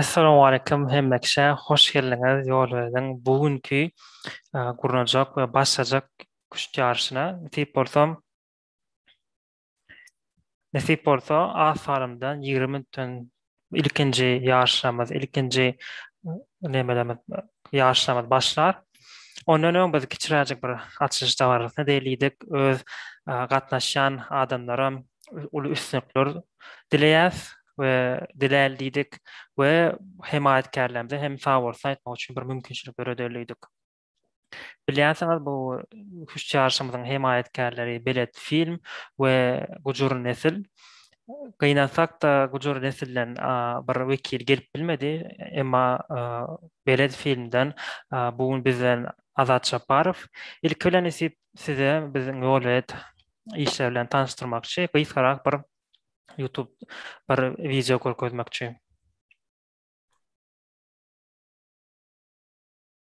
Essalamualeýkum hemme kişä hoş geldiňiz Ýolöwediň bu günki gurnajak we başlajak küşt ýaryşyna. Nesip bolsa Nesip bolsa, az salymdan ýigrimi minutdan ilkinji ýaryşlarymyz, ilkinji nemelerimiz, ýaryşlarymyz başlar. Ondan öň biz kiçiräjik bir açylyş dabarasyna diýelidik. Öz gatnaşýan adamlaram uly üstünlikler dileýäs we diläýeli diýdik we hemaýatkärlerimize hem sagbolsun aýtmak üçin bir mümkinçilik döredelidik. Bilýänsiňiz, bu hüş çaryşymyzyň hemaýatkärleri Belet Film we Gujur Nesil. Gynansak-da, Gujur Nesilden bir wekil gelip bilmedi, emma Belet Filmden bu gün bizden Azat Japarow. Ilki bilen Nesip size biziň Ýolbet işleri bilen tanyşdyrmakçy, gysgarak bir YouTube bir wideo görkezmekçi.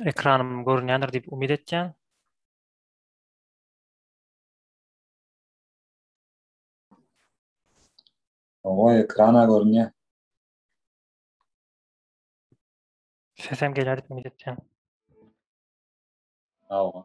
Ekranym görünýändir diýip umyt etýän. Owa, ekrana görünýär. Sesem gelýär diýip umyt etýän. Owa.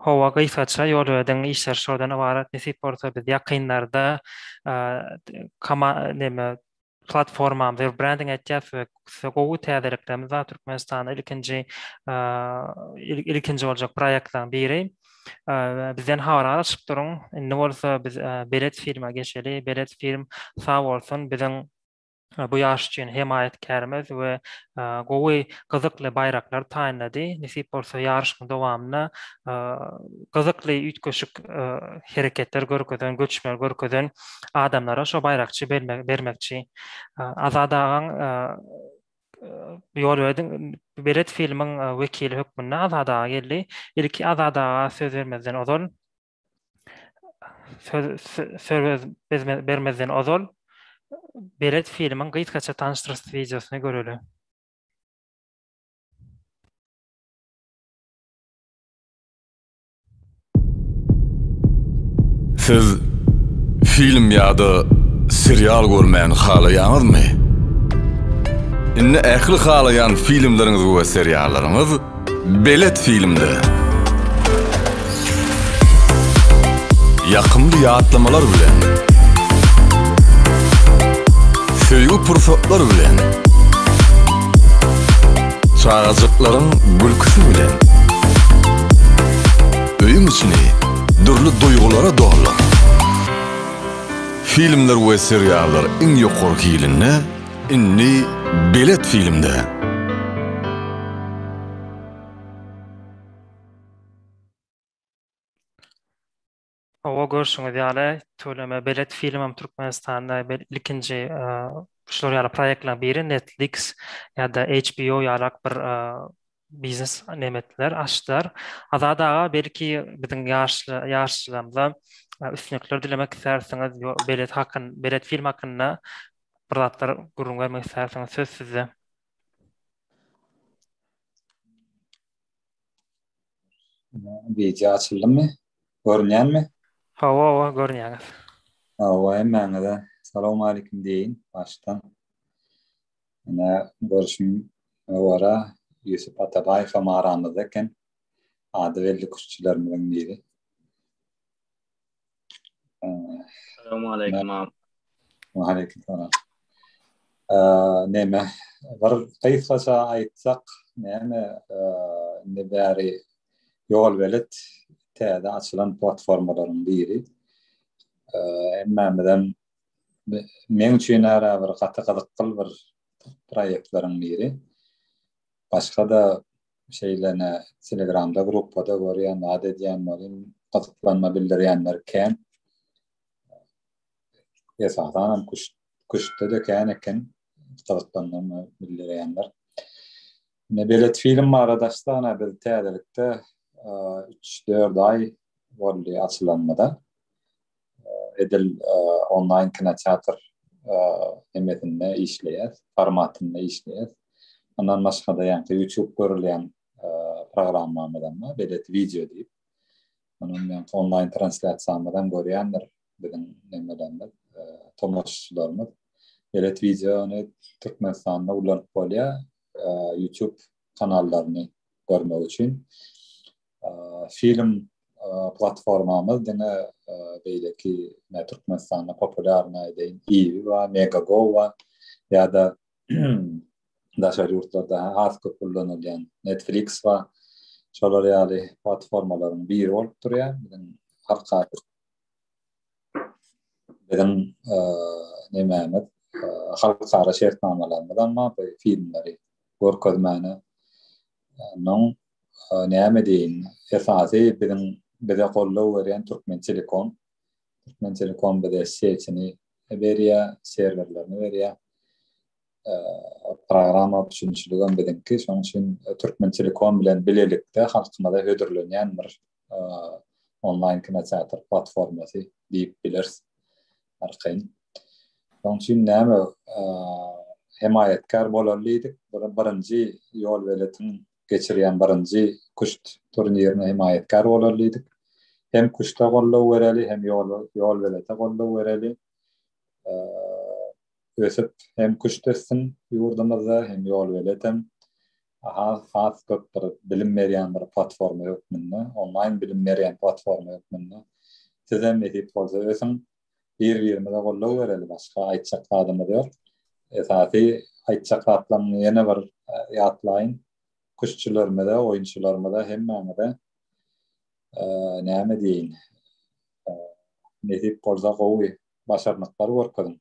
Hawa gysgaça ýolöden işler şodan ybarat nesip bolsa biz ýakynlarda platformamyzy we brending etýäs we gowy täzeliklerimiz bar Türkmenistanda ilkinji ilkinji boljak proýektlaň biri bizden habar alyşyp duruň indi bolsa biz belet filme geçeli belet film sag bolsun biziň bu ýaş üçin hemaýatkärimiz we gowy, gyzykly baýraklar taýynlady. Nesip bolsa, ýaryşyň dowamynda gyzykly, üýtgeşik hereketler görkezen, göçmeler görkezen adamlara şo baýrakçy bermekçi. Azat agaň ýol berdiň. Belet filmiň wekili hökmünde Azat aga geldi. Ilki Azat aga söz bermezden ozal, söz bermezden ozal belet filmiň gysgaça tanyşdyryş wideosyny göreli. Siz film ýa-da serial görmäni halaýaňyzmy? Indi ähli halaýan filmleriňiz we seriallaryňyz Belet filmde Ýakymly ýatlamalar bilen Söýgi pursatlar bilen Çagajyklaryň gülküsi bilen Öýüň içini dürli duýgulara doldur. Filmler we seriallar iň ýokary hilinde Indi belet filmde. Hawa görşüňiz ýaly töleme belet filmem Türkmenistanda bel ilkinji şular ýaly proýektleriň biri Netflix ýa-da HBO ýalak bir biznes nemetler açdylar. Azat aga belki biziň ýaşly ýaşlarymyza üstünlikler dilemek istersiňiz, belet hakyn, belet film hakynda bir zatlar gürrüň bermek istersiňiz, söz sizde. Video açyldymy? Görünýärmi? Hawa, hawa, görünýäňiz. Hawa, hemmäňize salam aýlykum diýin başdan. Ine, görşüm ýowara Ýusup Atabaýew hem aramyzda eken. Ady belli küştçülerimiziň biri. Salam aleýkum abi. Wa aleýkum salam. Näme, bir gysgaça aýtsak, näme, indi bäri ýol belet täze açylan platformalaryň biri. Hemmämizem Meň üçin ara bir gaty gyzykly bir proýektlaryň biri. Başga-da şeýlene telegramda gruppada görýän, zat edýän welin gyzyklanma bildirýänler kän. Esasan hem küştde-de kän eken gyzyklanma bildirýänler. Ine belet film barada açsana biz täzelikde üç-dört aý boldy açylanymyza. edil onlaýn kinoteatr hemmetinde işleýär, formatynda işleýär. Ondan başga da ýa-da YouTube görülýän programmamyz hem bar, belet wideo diýip. Onuň ýa onlaýn translýasiýamyzy hem görýändir biziň hemmelerimiz, tomaşaçylarymyz. Belet wideony Türkmenistanda ulanyp bolýar, YouTube kanallaryny görmek üçin. Film platformamyz diňe beýleki ne Türkmenistanda populýarna edeýin Iwi we Megago we ýa-da daşary ýurtlarda has köp ullanylýan Netflix we şolar ýaly platformalaryň biri bolup durýar. Biziň halkara biziň nemämiz halkara şertnamalarymyz hem bar bu filmleri görkezmäne. Onuň näme diýin, esasy biziň bize goldaw berýän Türkmentelekom. Türkmentelekom bize setini berýär, serwerlerini berýär. Programma üçinçiligem biziňki. Şonuň üçin Türkmentelekom bilen bilelikde halkymyza hödürlenýän bir onlaýn kinoteatr platformasy diýip bileris. Arkaýyn. Şonuň üçin näme hemaýatkär bolaly diýdik. Birinji ýolbeletiň geçirýän birinji küşt turnirine hemaýatkär bolaly diýdik. Hem küşte goldaw bereli, hem ýolbelete goldaw bereli. Ösüp hem küşt össün ýurdumyzda, hem ýolbelet hem has köp bir bilim berýän bir platforma hökmünde, onlaýn bilim berýän platforma hökmünde. Sizem nesip bolsa ösüň, bir birimize goldaw bereli başga aýtjak zadymyz ýok. Esasy aýtjak zatlarymyzy ýene bir e, ýatlaýyn. Küştçülerimize, oýunçylarymyza hemmäňize e, näme diýin? E, nesip bolsa gowy başarnyklar görkeziň.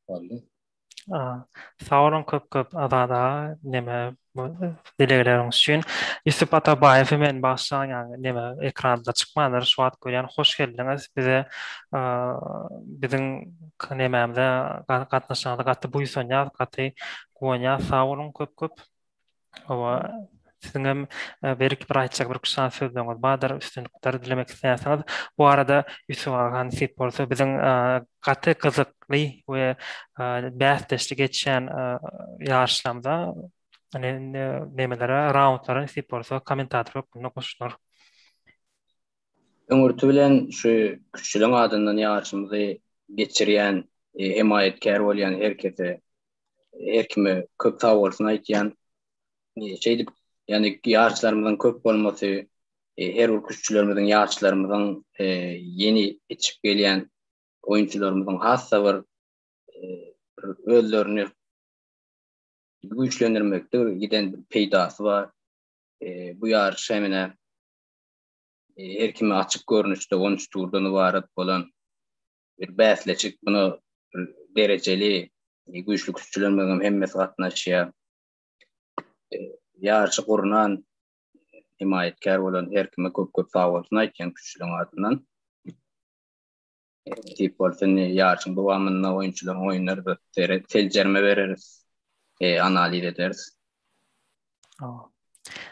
Boldy. Sag boluň köp köp Azat aga neme bu dilegleriňiz üçin. Ýusup Atabaýewi men bagşylaň ýaňy neme ekranda çykmandyr şu wagt görýän hoş geldiňiz bize biziň nemämize gatnaşanyňyza gaty buýsanýas gaty guwanýas sag boluň köp köp. Hawa, siziň hem e, berik bir aýtjak bir kuşan sözleriňiz bardyr, üstünlikler dilemek isleýärsiňiz. Bu arada Ýusuf aga nesip bolsa biziň e, gaty gyzykly we e, bäsdeşli geçýän e, ýaryşlarymyza ne- ne- nemelere, raundlara nesip bolsa kommentator hökmünde goşular. Öňürti bilen şu küçüleň adyndan ýaryşymyzy geçirýän, e, hemaýatkär bolýan her kese erkime köp sag bolsun aýtýan. Şeýdip, ýani ýaşlarymyzyň köp bolmasy, e, her bir küştçülerimiziň, ýaşlarymyzyň e, ýeni ýetişip gelýän oýunçylarymyzyň hassa bir e, özlerini güýçlendirmekde giden peýdasy bar. E, bu ýaryş hem ene e, erkime açyk görnüşde 13 turdan ibarat bolan bir bäsleşik muny derejeli e, güýçli küşçülerimiz hem hemmesi gatnaşýar. E, ýaryşy gurnan himaýatkär bolan her kime köp-köp sag bolsun aýtýan küşçüligiň adyndan. Tip e, bolsun ýaryşyň dowamynda oýunçylaryň oýunlary seljerme bereris, analiz ederis.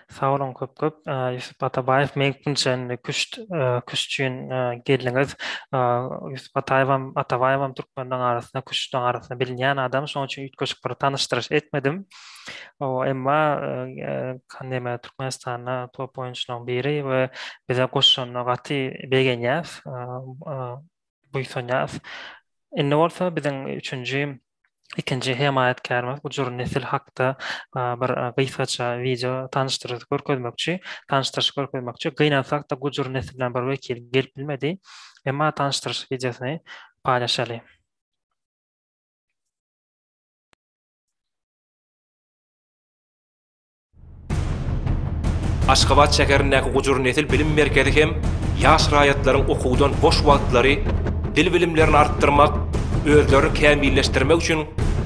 Sag boluň köp köp. Ýusup Atabaýew meňkin çenli küşt küşt üçin geldiňiz. Ýusup Ataýewem Atabaýewem türkmenleň arasynda küştleň arasynda bilinýän adam. Şonuň üçin üýtgeşik bir tanyşdyryş etmedim. Emma näme Türkmenistanda top oýunçylaryň biri we bize goşanyna gaty begenýäs. Buýsanýas. Indi bolsa biziň üçünji ikinji hemaýatkärimiz gujur nesil hakda bir gysgaça wideo tanyşdyryş görkezmekçi, tanyşdyryş görkezmekçi. Gynansak-da, gujur neslinden bir wekil gelip bilmedi. Emma tanyşdyryş wideosyny paýlaşaly. Aşgabat şäherindäki Gujur nesil bilim merkezi hem ýaş raýatlaryň okuwdan boş wagtlary, dil bilimlerini artdyrmak, özlerini kämilleşdirmek üçin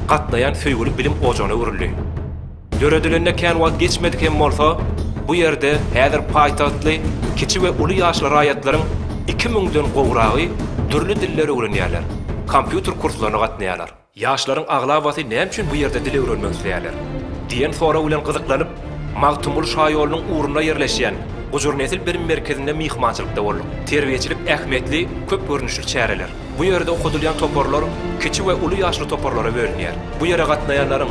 gatnaýan söýgüli bilim ojagyna öwrüldi. Döredilenine kän wagt geçmedik hem bolsa, bu ýerde häzir paýtagtly kiçi we uly ýaşly raýatlaryň iki müňden gowragy dürli dilleri öwrenýärler, kompýuter kurslaryna gatnaýarlar. Ýaşlaryň aglabasy näme üçin bu ýerde dil öwrenmek isleýärler? diýen sorag bilen gyzyklanyp, Magtymguly şaýolunyň ugrunda ýerleşýän Gujurnesil bilim merkezinde myhmançylykda bolduk. Terbiýeçilik ähmiýetli köp görnüşli çäreler. Bu ýerde okadylýan toparlar kiçi we uly ýaşly toparlara bölünýär. Bu ýere gatnaýanlaryň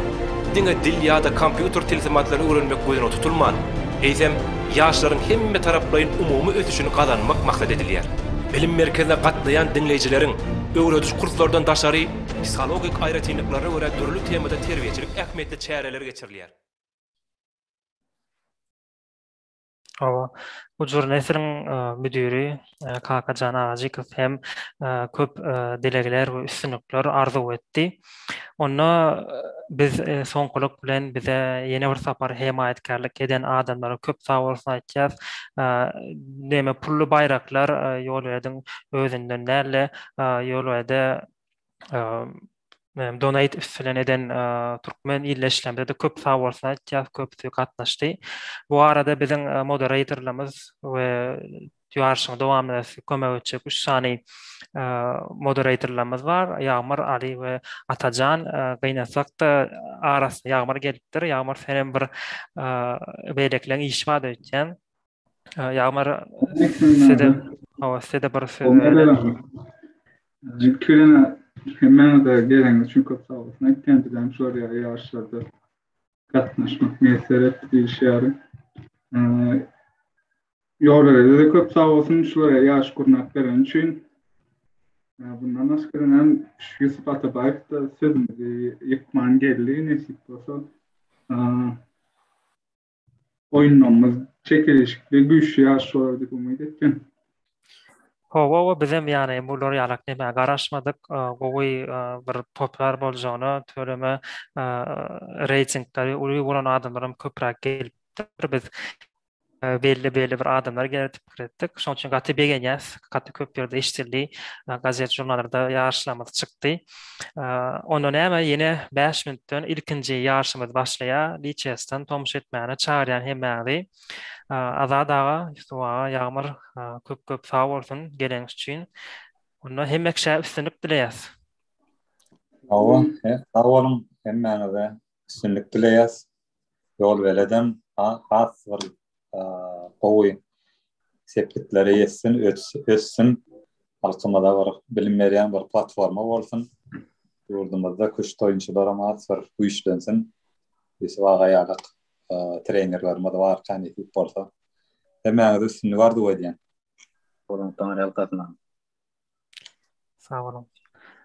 diňe dil ýa-da kompýuter tilsimatlaryny öwrenmek gözüne tutulman, eýsem, ýaşlaryň hemmetaraplaýyn umumy ösüşini gazanmak maksat edilýär. Bilim merkezine gatnaýan diňleýjileriň Öwrediş kurslardan daşary, psihologik aýratynlyklaryna görä dürli temada terbiýeçilik ähmiýetli çäreler geçirilýär. Hawa, bu jur nesiriň müdiri Kakajan Agajykow hem köp dilegler we üstünlikler arzuw etdi. Onda biz soňkulyk bilen bize ýene bir sapar hemaýatkärlik eden adamlara köp sagbolsun aýtýas. Näme pully baýraklar Ýolwediň özünden däldi. Ýolwede donate üstünden eden türkmen ilde işlemde-de köp sagbolsun aýtýas, köpüsi gatnaşdy. Bu arada biziň moderatorlarymyz we ýaryşyň dowamynda size kömek etjek üç sany moderatorlarymyz bar, Ýagmyr, Aly we Atajan. Gynasak-da, arasyna Ýagmyr gelipdir. Ýagmyr, senem bir beýlekileriň işi bar-da öýtýän. Ýagmyr, size-de, hawa, size-de bir söz berelim. Hemmäňize geleniňiz üçin köp sag boluň. Aýtýan dilegim şolar ýaly ýaryşlarda gatnaşmak miýesser etdi diýişýärin. Ýorelede köp sag bolsun şulara ýaş gurnap beren üçin. Bundan başga hem Ýusup Atabaýew da sözümizi ýykman geldi, nesip bolsa. Oýunlarymyz çekeleşikli, güýçli ýaryş bolar diýip umyt etdim. Hawa, hawa, bizem ýany bular ýalak demä garaşmadyk. Gowy bir toplar boljagyna töreme reýtingleri uly bolan adamlaram köpräk gelipdir. Biz belli-belli bir adamlar geldik. pikir etdik. Şonuň üçin gaty begenýäs. Gaty köp ýerde eşidildi. Gazet žurnallarda ýaryşlarymyz çykdy. Onda näme ýene 5 minutdan ilkinji ýaryşymyz başlaýar. Liçesden tomuş etmäne çagyrýan hemmäňizi. Azat aga, Ýusup aga, Ýagmyr köp köp sag bolsun geleňiz üçin. Onda hemme kişä üstünlik dileýäs. Sag boluň hemmäňize. üstünlik dileýäs. Ýol beledem has bir gowy sepgitlere ýetsin, össün. Halkymyza bir bilim berýän bir platforma bolsun. Ýurdumyzda küşt oýunçylaram has bir güýçlensin. Ýusuf aga ýaly trenerlerimiz bar, känesip bolsa. Hemmäňize üstünlik arzuw edýän. Sag boluň.